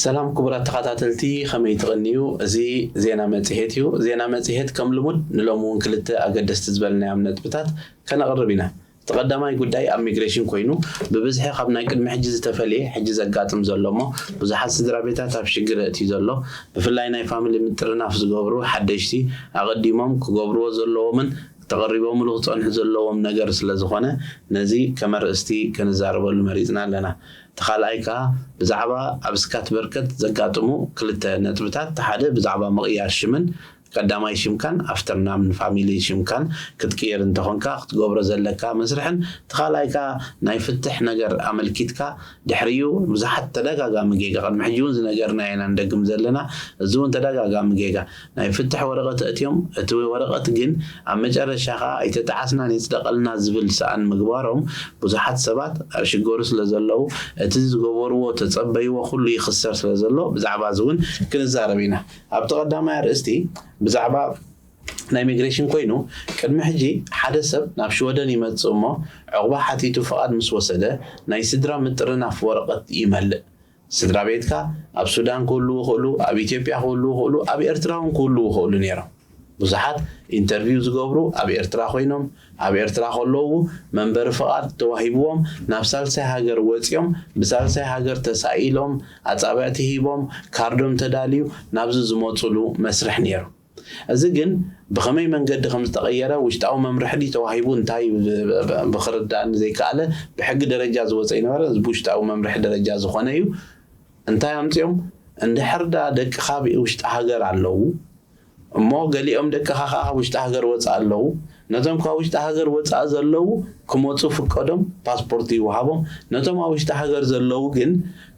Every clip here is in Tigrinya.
ሰላም ክቡራት ተኸታተልቲ ከመይ ትቕንዩ? እዚ ዜና መጽሔት እዩ። ዜና መጽሔት ከም ልሙድ ንሎሚ እውን ክልተ ኣገደስቲ ዝበልናዮም ነጥብታት ከነቕርብ ኢና። እቲ ቀዳማይ ጉዳይ ኣብ ሚግሬሽን ኮይኑ ብብዝሒ ካብ ናይ ቅድሚ ሕጂ ዝተፈልየ ሕጂ ዘጋጥም ዘሎ እሞ ብዙሓት ስድራቤታት ኣብ ሽግር የእትዩ ዘሎ ብፍላይ ናይ ፋሚሊ ምጥርናፍ ዝገብሩ ሓደሽቲ ኣቐዲሞም ክገብርዎ ዘለዎምን ተቐሪቦምሉ ክጸንሑ ዘለዎም ነገር ስለዝኾነ ነዚ ከመርእስቲ ክንዛረበሉ መሪጽና ኣለና እቲ ካልኣይ ከኣ ብዛዕባ ኣብ ስካትበርከት ዘጋጥሙ ክልተ ነጥብታት እቲ ሓደ ብዛዕባ ምቕያር ሽምን ቀዳማይ ሽምካን ኣፍተርናም ን ፋሚሊ ሽምካን ክትቅይር እንተኮንካ ክትገብሮ ዘለካ መስርሕን እቲ ካልኣይ ከኣ ናይ ፍትሕ ነገር ኣመልኪትካ ድሕሪኡ ብዙሓት ተዳጋጋሚ ጌጋ ቅድሚ ሕጂ ውን ዝነገርናዮ ኢና ንደግም ዘለና እዚ ውን ተዳጋጋሚ ጌጋ ናይ ፍትሕ ወረቀት ኣእትዮም እቲ ወረቀት ግን ኣብ መጨረሻ ከኣ ኣይተጣዓስናን ይጽደቀልና ዝብል ሰኣን ምግባሮም ብዙሓት ሰባት ኣብ ሽገሩ ስለ ዘለዉ እቲ ዝገበርዎ ተጸበይዎ ኩሉ ይክሰር ስለ ዘሎ ብዛዕባ እዚ ውን ክንዛረብ ኢና። ኣብቲ ቀዳማይ ኣርእስቲ ብዛዕባ ናይ ሚግሬሽን ኮይኑ ቅድሚ ሕጂ ሓደ ሰብ ናብ ሽወደን ይመጽእ እሞ ዕቑባ ሓቲቱ ፍቓድ ምስ ወሰደ ናይ ስድራ ምጥርናፍ ወረቐት ይመልእ። ስድራቤትካ ኣብ ሱዳን ክህልዉ ይኽእሉ፣ ኣብ ኢትዮጵያ ክህልዉ ይኽእሉ፣ ኣብ ኤርትራ እውን ክህልዉ ይኽእሉ ነይሮም። ብዙሓት ኢንተርቪው ዝገብሩ ኣብ ኤርትራ ኮይኖም ኣብ ኤርትራ ከለዉ መንበሪ ፍቓድ ተዋሂብዎም ናብ ሳልሳይ ሃገር ወጺኦም ብሳልሳይ ሃገር ተሳኢሎም ኣጻብዕቲ ሂቦም ካርዶም ተዳልዩ ናብዚ ዝመጹሉ መስርሕ ኔሩ እዚ ግን ብኸመይ መንገዲ ከም ዝተቐየረ ውሽጣዊ መምርሒ ድዩ ተዋሂቡ እንታይ ብክርዳኣኒ ዘይከኣለ ብሕጊ ደረጃ ዝወጸ ኣይነበረ እዚ ብውሽጣዊ መምርሒ ደረጃ ዝኾነ እዩ እንታይ ኣምጺኦም እንድሕር ደኣ ደቅኻ ኣብ ውሽጢ ሃገር ኣለዉ እሞ ገሊኦም ደቅኻ ከኣ ካብ ውሽጢ ሃገር ወጻኢ ኣለዉ። ነቶም ካብ ውሽጢ ሃገር ወጻኢ ዘለዉ ክመጹ ፍቀዶም፣ ፓስፖርት ይወሃቦም። ነቶም ኣብ ውሽጢ ሃገር ዘለዉ ግን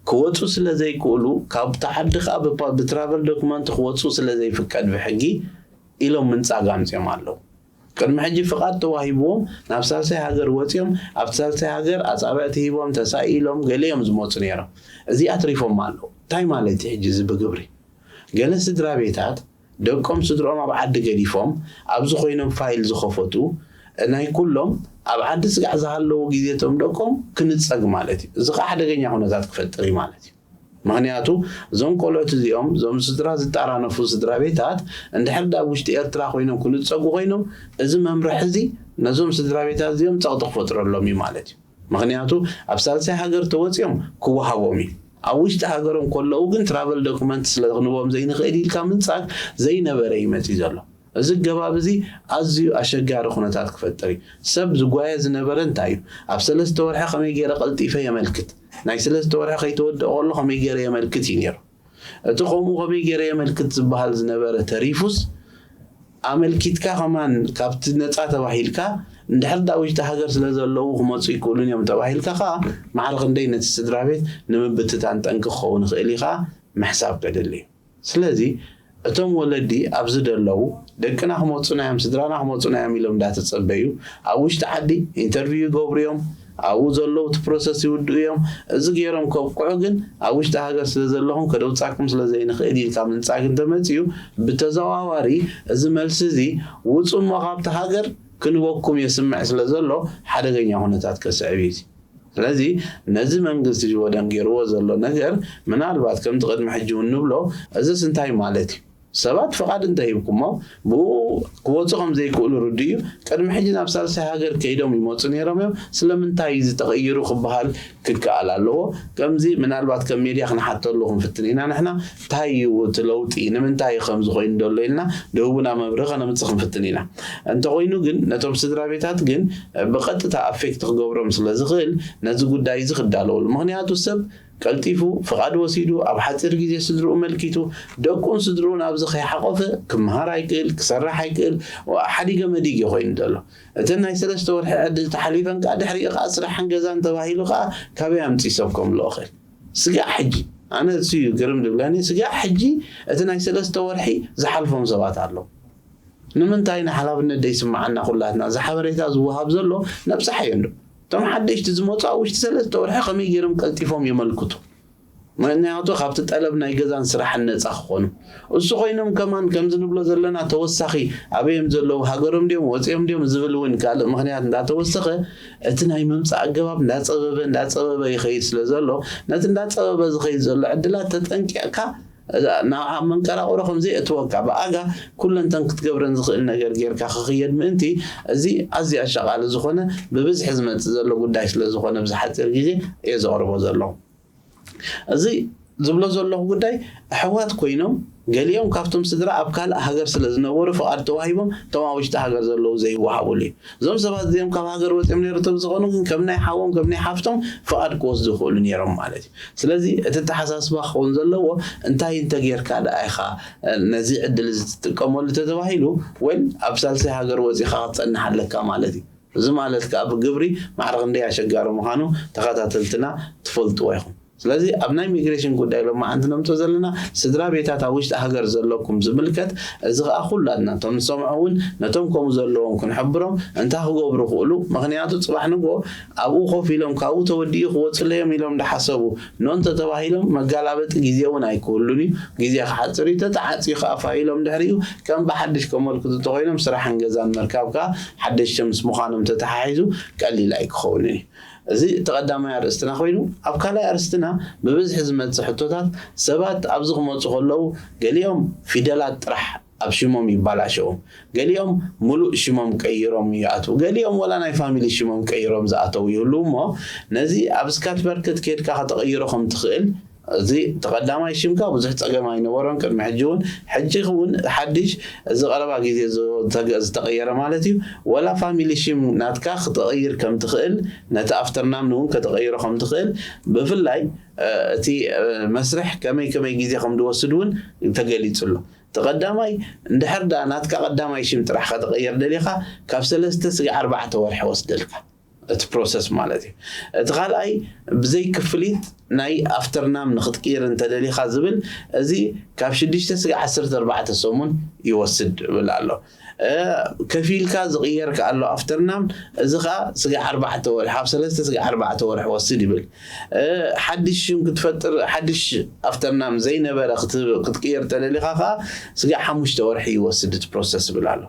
ክወጹ ስለ ዘይክእሉ ካብ'ታ ዓዲ ከኣ ብትራቨል ዶክመንት ክወጹ ስለ ዘይፍቀድ ብሕጊ ኢሎም ምንጻግ ኣምጺኦም ኣለዉ። ቅድሚ ሕጂ ፍቓድ ተዋሂብዎም ናብ ሳልሳይ ሃገር ወጺኦም ኣብቲ ሳልሳይ ሃገር ኣጻብዕቲ ሂቦም ተሳኢሎም ገለ እዮም ዝመጹ ነይሮም እዚ ኣትሪፎማ ኣለዉ እንታይ ማለት እዩ ሕጂ እዚ ብግብሪ ገለ ስድራቤታት ደቆም ስድርኦም ኣብ ዓዲ ገዲፎም ኣብዚ ኮይኖም ፋይል ዝኸፈቱ ናይ ኩሎም ኣብ ዓዲ ስጋዕ ዝሃለዉ ግዜቶም ደቆም ክንጸግ ማለት እዩ እዚ ከኣ ሓደገኛ ኩነታት ክፈጥር እዩ ማለት እዩ። ምኽንያቱ እዞም ቆልዑት እዚኦም እዞም ስድራ ዝጣራነፉ ስድራቤታት እንድሕር ድኣ ኣብ ውሽጢ ኤርትራ ኮይኖም ክንጸጉ ኮይኖም እዚ መምርሒ እዚ ነዞም ስድራቤታት እዚኦም ጸቕጢ ክፈጥረሎም እዩ ማለት እዩ ምኽንያቱ ኣብ ሳልሳይ ሃገር ተወጺኦም ክወሃቦም እዩ ኣብ ውሽጢ ሃገሮም ከለዉ ግን ትራቨል ዶክመንት ስለ ክንቦም ዘይንኽእል ኢልካ ምንጻግ ዘይነበረ እዩ መጺ ዘሎ እዚ ኣገባብ እዚ ኣዝዩ ኣሸጋሪ ኩነታት ክፈጥር እዩ። ሰብ ዝጓየ ዝነበረ እንታይ እዩ? ኣብ ሰለስተ ወርሒ ከመይ ገይረ ቀልጢፈ የመልክት? ናይ ስለስተ ወርሒ ከይተወድኣ ከሎ ከመይ ገይረ የመልክት እዩ ነይሩ። እቲ ከምኡ ከመይ ገይረ የመልክት ዝበሃል ዝነበረ ተሪፉስ ኣመልኪትካ ከማን ካብቲ ነጻ ተባሂልካ እንድሕር ደኣ ውሽጢ ሃገር ስለዘለዉ ክመጹ ኣይክእሉን እዮም ተባሂልካ ከኣ ማዕረ ክንደይ ነቲ ስድራቤት ንምብትታን ጠንቂ ክኸውን ይኽእል እዩ ከኣ ምሕሳብ ከድሊ እዩ። ስለዚ እቶም ወለዲ ኣብዚ ደለዉ ደቅና ክመጹና እዮም ስድራና ክመጹና እዮም ኢሎም እንዳተጸበዩ ኣብ ውሽጢ ዓዲ ኢንተርቪው ይገብሩ እዮም ኣብኡ ዘለዉ እቲ ፕሮሰስ ይውድኡ እዮም እዚ ገይሮም ከብቅዑ ግን ኣብ ውሽጢ ሃገር ስለ ዘለኹም ከደውጻኩም ስለ ዘይንኽእል ኢልካ ምንጻግ እንተመጽዩ ብተዘዋዋሪ እዚ መልሲ እዚ ውጹ እሞ ካብቲ ሃገር ክንበኩም የስምዕ ስለ ዘሎ ሓደገኛ ኩነታት ከስዕብ እዩ እዚ ስለዚ ነዚ መንግስቲ ሽወደን ጌርዎ ዘሎ ነገር ምናልባት ከምቲ ቅድሚ ሕጂ ውን ንብሎ እዝስ እንታይ ማለት እዩ ሰባት ፍቓድ እንተ ሂብኩሞ ብኡ ክወጹ ከም ዘይክእሉ ርዱእ እዩ ቅድሚ ሕጂ ናብ ሳልሳይ ሃገር ከይዶም ይመጹ ኔሮም እዮም ስለምንታይ እዩ እዚ ተቐይሩ ክበሃል ክከኣል ኣለዎ ከምዚ ምናልባት ከም ሜድያ ክንሓተሉ ክንፍትን ኢና ንሕና ታይ እዩ እቲ ለውጢ? ንምንታይ እዩ ከምዚ ኮይኑ ዘሎ ኢልና ድህቡና መብርሂ ከነምፅእ ክንፍትን ኢና። እንተኾይኑ ግን ነቶም ስድራቤታት ግን ብቐጥታ ኣፌክት ክገብሮም ስለዝኽእል ነዚ ጉዳይ እዚ ክዳለውሉ። ምኽንያቱ ሰብ ቀልጢፉ ፍቓድ ወሲዱ ኣብ ሓፂር ግዜ ስድርኡ መልኪቱ ደቁን ስድርኡን ኣብዚ ከይሓቖፈ ክምሃር ኣይክእል፣ ክሰርሕ ኣይክእል፣ ሓዲገ መዲግ እዩ ኮይኑ ዘሎ። እተን ናይ ሰለስተ ወርሒ ዕድል ተሓሊፈን ከዓ ድሕሪኡ ከዓ ስራሕን ገዛን ተባሂሉ ከዓ ካበይ ኣምፂኡ ሰብ ከምልኦ እኽእል? ስጋዕ ሕጂ ኣነ እሱ እዩ ግርም ድብለኒ ስጋዕ ሕጂ እቲ ናይ ሰለስተ ወርሒ ዝሓልፎም ሰባት ኣለው ንምንታይ ንሓላፍነት ደይስማዓና ኩላትና እዚ ሓበሬታ ዝዋሃብ ዘሎ ነብጻሕ እዩ እንዶ እቶም ሓደሽቲ ዝመጹ ኣብ ውሽጢ ሰለስተ ወርሒ ከመይ ገይርም ቀልጢፎም የመልክቱ ምክንያቱ ካብቲ ጠለብ ናይ ገዛን ስራሕን ነጻ ክኮኑ እሱ ኮይኖም ከማን ከምዚ ንብሎ ዘለና ተወሳኺ ኣበዮም ዘለዉ ሃገሮም ድዮም ወጺኦም ድዮም ዝብል እውን ካልእ ምኽንያት እንዳተወሰኸ እቲ ናይ ምምጻእ ኣገባብ እንዳጸበበ እንዳጸበበ ይኸይድ ስለ ዘሎ ነቲ እንዳጸበበ ዝኸይድ ዘሎ ዕድላት ተጠንቂቕካ ናብ መንቀራቑሮ ከም ዘይእትወካ ብኣጋ ኩለንተን ክትገብረን ዝኽእል ነገር ጌርካ ክኽየድ ምእንቲ እዚ ኣዝዩ ኣሻቓሊ ዝኾነ ብብዝሒ ዝመጽእ ዘሎ ጉዳይ ስለ ዝኾነ ብዝሓጺር ግዜ እየ ዘቕርቦ ዘለኹ። እዚ ዝብሎ ዘለኹ ጉዳይ ኣሕዋት ኮይኖም ገሊኦም ካብቶም ስድራ ኣብ ካልእ ሃገር ስለ ዝነበሩ ፍቓድ ተዋሂቦም እቶም ኣብ ውሽጢ ሃገር ዘለዉ ዘይወሃቡሉ እዩ። እዞም ሰባት እዚኦም ካብ ሃገር ወጺኦም ነይሩ ተዝኾኑ ግን ከም ናይ ሓዎም ከም ናይ ሓፍቶም ፍቓድ ክወስዱ ይኽእሉ ነይሮም ማለት እዩ። ስለዚ እቲ ኣተሓሳስባ ክኸውን ዘለዎ እንታይ እንተጌርካ ደኣ ኢኻ ነዚ ዕድል እዚ ትጥቀመሉ ተተባሂሉ ወል ኣብ ሳልሳይ ሃገር ወጺኻ ክትጸንሕ ኣለካ ማለት እዩ። እዚ ማለት ከኣ ብግብሪ ማዕረ ክንደይ ኣሸጋሪ ምዃኑ ተኸታተልትና ትፈልጥዎ ኢኹም። ስለዚ ኣብ ናይ ሚግሬሽን ጉዳይ ሎማዓንቲ ነምጾ ዘለና ስድራ ቤታት ኣብ ውሽጢ ሃገር ዘለኩም ዝምልከት እዚ ከኣ ኩላትና እቶም ንሰምዖ ውን ነቶም ከምኡ ዘለዎም ክንሕብሮም እንታይ ክገብሩ ክእሉ ምኽንያቱ ጽባሕ ንግሆ ኣብኡ ኮፍ ኢሎም ካብኡ ተወዲኡ ክወጽለዮም ኢሎም እንዳሓሰቡ ን እንተተባሂሎም መጋላበጢ ግዜ እውን ኣይክህሉን እዩ። ግዜ ክሓፅር እዩ። ተተዓፅዩ ከዓ ፋይ ኢሎም ድሕሪኡ ከም ብሓዱሽ ከመልክቱ እንተኾይኖም ስራሕን ገዛን ምርካብ ከዓ ሓደሽቲ ምስ ምዃኖም ተተሓሒዙ ቀሊል ኣይክኸውንን እዩ። እዚ እቲ ቀዳማይ ኣርእስትና ኮይኑ ኣብ ካልኣይ ኣርእስትና ብብዝሒ ዝመፅእ ሕቶታት ሰባት ኣብዚ ክመፁ ከለዉ ገሊኦም ፊደላት ጥራሕ ኣብ ሽሞም ይባላሸዉ ገሊኦም ሙሉእ ሽሞም ቀይሮም ይኣትዉ ገሊኦም ወላ ናይ ፋሚሊ ሽሞም ቀይሮም ዝኣተዉ ይህልዉ እሞ ነዚ ኣብ ስካትቨርከት ኬድካ ከተቐይሮ ከምትኽእል እዚ እቲ ቀዳማይ ሽምካ ብዙሕ ጸገም ኣይነበሮን ቅድሚ ሕጂ ውን ሕጂ ውን ሓድሽ እዚ ቀረባ ግዜ ዝተቐየረ ማለት እዩ ወላ ፋሚሊ ሽም ናትካ ክተቐይር ከምትኽእል ነቲ ኣፍተርናም ውን ከተቐይሮ ከምትኽእል ብፍላይ እቲ መስርሕ ከመይ ከመይ ግዜ ከምድወስድ ውን ተገሊጹ ኣሎ እቲ ቀዳማይ እንድሕር ድኣ ናትካ ቀዳማይ ሽም ጥራሕ ከተቐይር ደሊኻ ካብ ሰለስተ ስጋዕ ኣርባዕተ ወርሒ ይወስደልካ እቲ ፕሮሰስ ማለት እዩ እቲ ካልኣይ ብዘይ ክፍሊት ናይ ኣፍተር ናም ንክትቅይር እንተደሊኻ ዝብል እዚ ካብ ሽዱሽተ ስጋዕ ዓሰርተ ኣርባዕተ ሰሙን ይወስድ ብል ኣሎ ከፊልካ ዝቕየር ከኣ ኣሎ ኣፍተርናም፣ እዚ ከኣ ስጋዕ ኣርባዕተ ወርሒ፣ ካብ ሰለስተ ስጋዕ ኣርባዕተ ወርሒ ክወስድ ይብል። ሓድሽ ሽም ክትፈጥር፣ ሓድሽ ኣፍተርናም ዘይነበረ ክትቅይር እንተደሊኻ ከኣ ስጋዕ ሓሙሽተ ወርሒ ይወስድ እቲ ፕሮሰስ ይብል ኣሎ።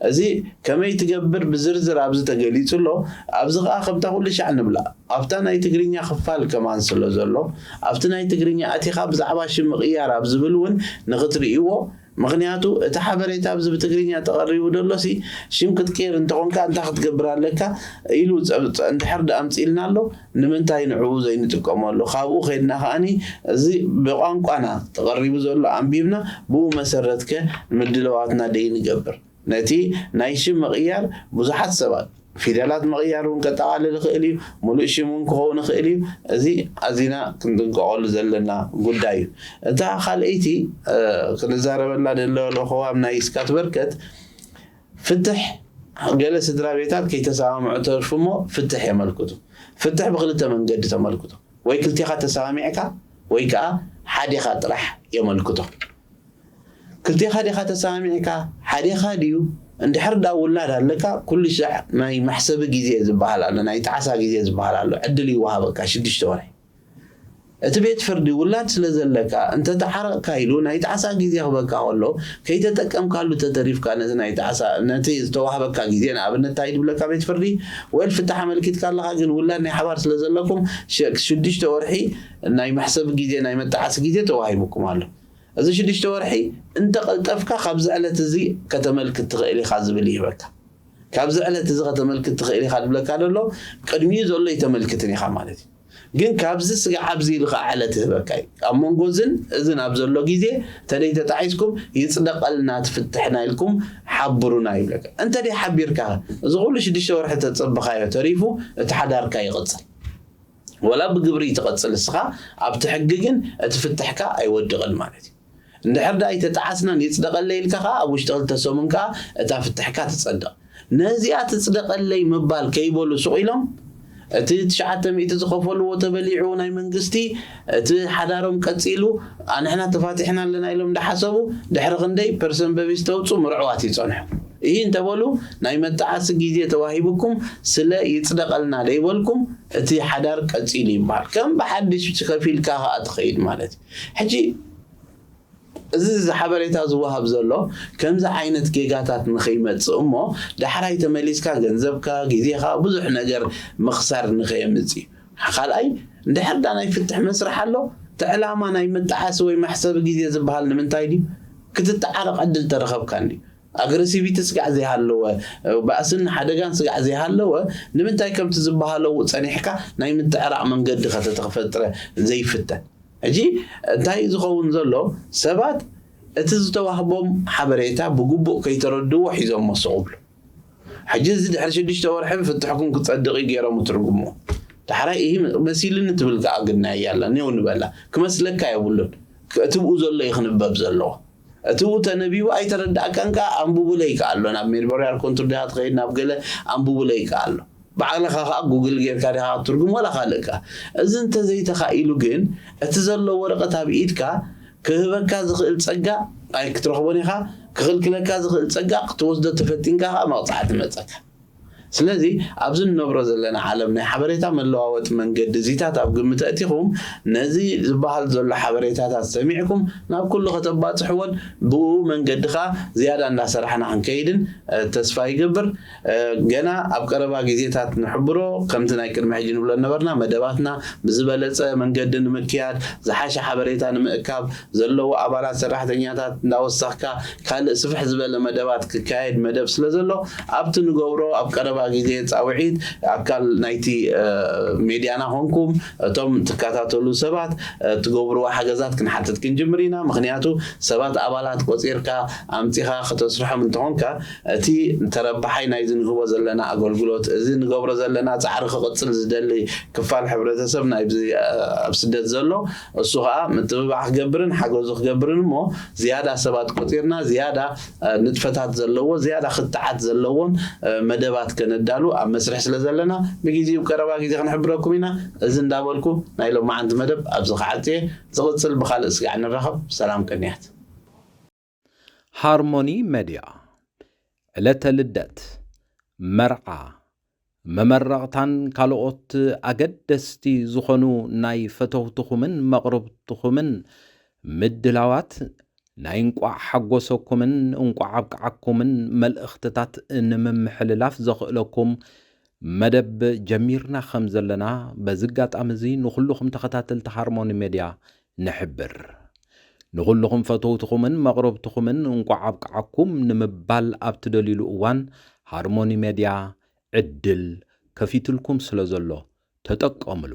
እዚ ከመይ ትገብር ብዝርዝር ኣብዚ ተገሊጹ ኣሎ። ኣብዚ ከኣ ከምታ ኩልሻዕ ንብላ ኣብታ ናይ ትግርኛ ክፋል ከማን ስለ ዘሎ ኣብቲ ናይ ትግርኛ ኣቲኻ ብዛዕባ ሽም ምቕያር ኣብ ዝብል እውን ንኽትርእይዎ ምኽንያቱ እቲ ሓበሬታ ኣብዚ ብትግርኛ ተቐሪቡ ደሎሲ ሽም ክትቅይር እንተኾንካ እንታይ ክትገብር ኣለካ ኢሉ ጸብጽ እንድሕር ድኣ ኣምጺልና ኣሎ ንምንታይ ንዕኡ ዘይንጥቀመሉ ካብኡ ከድና ከኣኒ እዚ ብቋንቋና ተቐሪቡ ዘሎ ኣንቢብና ብኡ መሰረትከ ምድለዋትና ደይንገብር ነቲ ናይ ሽም ምቕያር ብዙሓት ሰባት ፊደላት ምቕያር እውን ከጠቓልል ይኽእል እዩ፣ ምሉእ ሽም እውን ክኸውን ይኽእል እዩ፣ እዚ ኣዚና ክንጥንቀቐሉ ዘለና ጉዳይ እዩ። እታ ካልኣይቲ ክንዛረበላ ደለዎ ለኸዋም ናይ ስካትበርከት ፍትሕ ገለ ስድራቤታት ከይተሰማምዑ ተርፉ እሞ ፍትሕ የመልክቱ። ፍትሕ ብክልተ መንገዲ ተመልክቶ፣ ወይ ክልቴኻ ተሰማሚዕካ ወይ ከኣ ሓዴኻ ጥራሕ የመልክቶ። ክልቴኻ ዲኻ ተሰማሚዕካ ሓዴኻ ድዩ እንድሕር ድኣ ውላድ ኣለካ ኩሉ ሻዕ ናይ መሕሰቢ ግዜ ዝብሃል ኣሎ ናይ ጣዕሳ ግዜ ዝብሃል ኣሎ ዕድል ይወሃበካ ሽዱሽተ ወርሒ እቲ ቤት ፍርዲ ውላድ ስለ ዘለካ እንተ ተዓረቕካ ኢሉ ናይ ጣዕሳ ግዜ ክበካ ከሎ ከይተጠቀምካሉ ተተሪፍካ ነቲ ናይ ጣዕሳ ነቲ ዝተዋህበካ ግዜ ንኣብነት ታይ ድብለካ ቤት ፍርዲ ወል ፍታሕ ኣመልኪትካ ኣለኻ ግን ውላድ ናይ ሓባር ስለ ዘለኩም ሽዱሽተ ወርሒ ናይ መሕሰቢ ግዜ ናይ መጣዓሲ ግዜ ተዋሂቡኩም ኣሎ። እዚ ሽዱሽተ ወርሒ እንተቀልጠፍካ ካብዚ ዕለት እዚ ከተመልክት ትኽእል ኢኻ ዝብል ይህበካ። ካብዚ ዕለት እዚ ከተመልክት ትኽእል ኢኻ ዝብለካ ዘሎ ቅድሚኡ ዘሎ እይተመልክትን ኢኻ ማለት እዩ። ግን ካብዚ ስጋዕ ኣብዚ ኢሉ ከኣ ዕለት ይህበካ እዩ። ኣብ መንጎ እዝን እዝን ኣብ ዘሎ ግዜ ተደይ ተጣዒስኩም ይጽደቀልና እቲ ፍትሕና ኢልኩም ሓብሩና ይብለካ። እንተደይ ሓቢርካ ከ እዚ ኩሉ ሽዱሽተ ወርሒ ተጸበኻዮ ተሪፉ እቲ ሓዳርካ ይቅጽል። ወላ ብግብሪ ትቅጽል እስኻ ኣብቲ ሕጊ ግን እቲ ፍትሕካ ኣይወድቅን ማለት እዩ እንድሕር ድኣ ኣይተጣዓስናን ይጽደቀለይ ኢልካ ከኣ ኣብ ውሽጢ ክልተ ሰሙን ከኣ እታ ፍትሕካ ትጸድቅ ነዚኣ ትጽደቀለይ ምባል ከይበሉ ሱቅ ኢሎም እቲ ትሽዓተ ሚእቲ ዝኸፈልዎ ተበሊዑ ናይ መንግስቲ እቲ ሓዳሮም ቀጺሉ ኣንሕና ተፋቲሕና ኣለና ኢሎም እንዳሓሰቡ ድሕሪ ክንደይ ፐርሰንበቢስ ተውጹ ምርዕዋት ይጸንሑ ይህ እንተበሉ ናይ መጣዓሲ ግዜ ተዋሂብኩም ስለ ይጽደቀልና ደይበልኩም እቲ ሓዳር ቀጺሉ ይበሃል ከም ብሓድሽ ከፊልካ ከኣ ትኸይድ ማለት እዩ ሕጂ እዚ ሓበሬታ ዝወሃብ ዘሎ ከምዚ ዓይነት ጌጋታት ንኸይመጽእ እሞ ዳሕራይ ተመሊስካ ገንዘብካ ግዜኻ ብዙሕ ነገር ምኽሳር ንኸየምጽእ እዩ ካልኣይ እንድሕር ዳ ናይ ፍትሕ መስርሕ ኣሎ እቲ ዕላማ ናይ መጣሓሲ ወይ መሕሰቢ ግዜ ዝበሃል ንምንታይ ድዩ ክትተዓረቕ ዕድል ተረኸብካ እንድዩ ኣግረሲቪቲ ስጋዕ ዘይሃለወ ባእስን ሓደጋን ስጋዕ ዘይሃለወ ንምንታይ ከምቲ ዝበሃለዉ ጸኒሕካ ናይ ምትዕራቕ መንገዲ ከተተክፈጥረ ዘይፍተን ሕጂ እንታይ ዝኸውን ዘሎ ሰባት እቲ ዝተዋህቦም ሓበሬታ ብግቡእ ከይተረድዎ ሒዞሞ ስቕ እብሉ ሕጂ እዚ ድሕሪ ሽዱሽተ ወርሒ ብፍትሕኩም ክጸድቕ እዩ ገይሮም ይትርጉምዎ ዳሕራይ እሂ መሲልኒ ትብል ከኣ ግናይ እያ ኣላ ኔው ንበላ ክመስለካ የብሉን እትብኡ ዘሎ እዩ ክንበብ ዘለዎ እቲ ዉን ተነቢቡ ኣይተረዳኣካን ከኣ ኣንቡቡለይ ከኣ ኣሎ ናብ ሜድበርያር ኮንቱር ዲካ ትከይድ ናብ ገለ ኣንቡቡለይ ከኣ ኣሎ ባዕልካ ከኣ ጉግል ገርካ ዲካ ክትርጉም ወላ ካልእ ከኣ እዚ እንተዘይተካኢሉ ግን እቲ ዘሎ ወረቀት ኣብ ኢድካ ክህበካ ዝክእል ጸጋ ኣይክትረክቦን ኢካ ክክልክለካ ዝክእል ጸጋ ክትወስዶ ተፈቲንካ ከኣ መቅጻዕቲ መጸካ ስለዚ ኣብዚ ንነብሮ ዘለና ዓለም ናይ ሓበሬታ መለዋወጢ መንገዲ እዚታት ኣብ ግምት ኣእቲኹም ነዚ ዝበሃል ዘሎ ሓበሬታታት ሰሚዕኩም ናብ ኩሉ ከተባጽሕዎን ብእኡ መንገዲ ከኣ ዝያዳ እንዳሰራሕና ክንከይድን ተስፋ ይገብር ገና ኣብ ቀረባ ግዜታት ንሕብሮ ከምቲ ናይ ቅድሚ ሕጂ ንብሎ እነበርና መደባትና ብዝበለጸ መንገዲ ንምክያድ ዝሓሸ ሓበሬታ ንምእካብ ዘለዎ ኣባላት ሰራሕተኛታት እንዳወሰኽካ ካልእ ስፍሕ ዝበለ መደባት ክካየድ መደብ ስለ ዘሎ ኣብቲ ንገብሮ ኣብ ቀረባ ግዜ ጻውዒት ኣካል ናይቲ ሜድያና ኮንኩም እቶም ትከታተሉ ሰባት ትገብርዎ ሓገዛት ክንሓትት ክንጅምር ኢና ምኽንያቱ ሰባት ኣባላት ቆጺርካ ኣምጺኻ ከተስርሖም እንተኾንካ እቲ ተረባሓይ ናይዚ ንህቦ ዘለና ኣገልግሎት እዚ ንገብሮ ዘለና ጻዕሪ ክቕጽል ዝደሊ ክፋል ሕብረተሰብ ናይዚ ኣብ ስደት ዘሎ እሱ ከኣ ምትብባዕ ክገብርን ሓገዙ ክገብርን እሞ ዝያዳ ሰባት ቆጺርና ዝያዳ ንጥፈታት ዘለዎ ዝያዳ ክትዓት ዘለዎን መደባት ከነዳሉ ኣብ መስርሕ ስለ ዘለና ብጊዚኡ ቀረባ ጊዜ ክንሕብረኩም ኢና እዚ እንዳበልኩ ናይ ሎማዓንቲ መደብ ኣብዚ ክዓጽ እየ ዝቅጽል ብካልእ ስጋዕ ንራኸብ ሰላም ቅንያት። ሃርሞኒ መድያ ዕለተ ልደት፣ መርዓ፣ መመረቕታን ካልኦት ኣገደስቲ ዝኾኑ ናይ ፈተውትኹምን መቕርብትኹምን ምድላዋት ናይ እንቋዕ ሓጎሰኩምን እንቋዕ ኣብቅዓኩምን መልእኽትታት ንምምሕልላፍ ዘኽእለኩም መደብ ጀሚርና ከም ዘለና በዚ ኣጋጣሚ እዚ ንኹልኹም ተኸታተልቲ ሃርሞኒ መድያ ንሕብር። ንኹሉኹም ፈተውትኹምን መቕረብትኹምን እንቋዕ ኣብቅዓኩም ንምባል ኣብ ትደልዩሉ እዋን ሃርሞኒ ሜድያ ዕድል ከፊቱልኩም ስለ ዘሎ ተጠቀምሉ።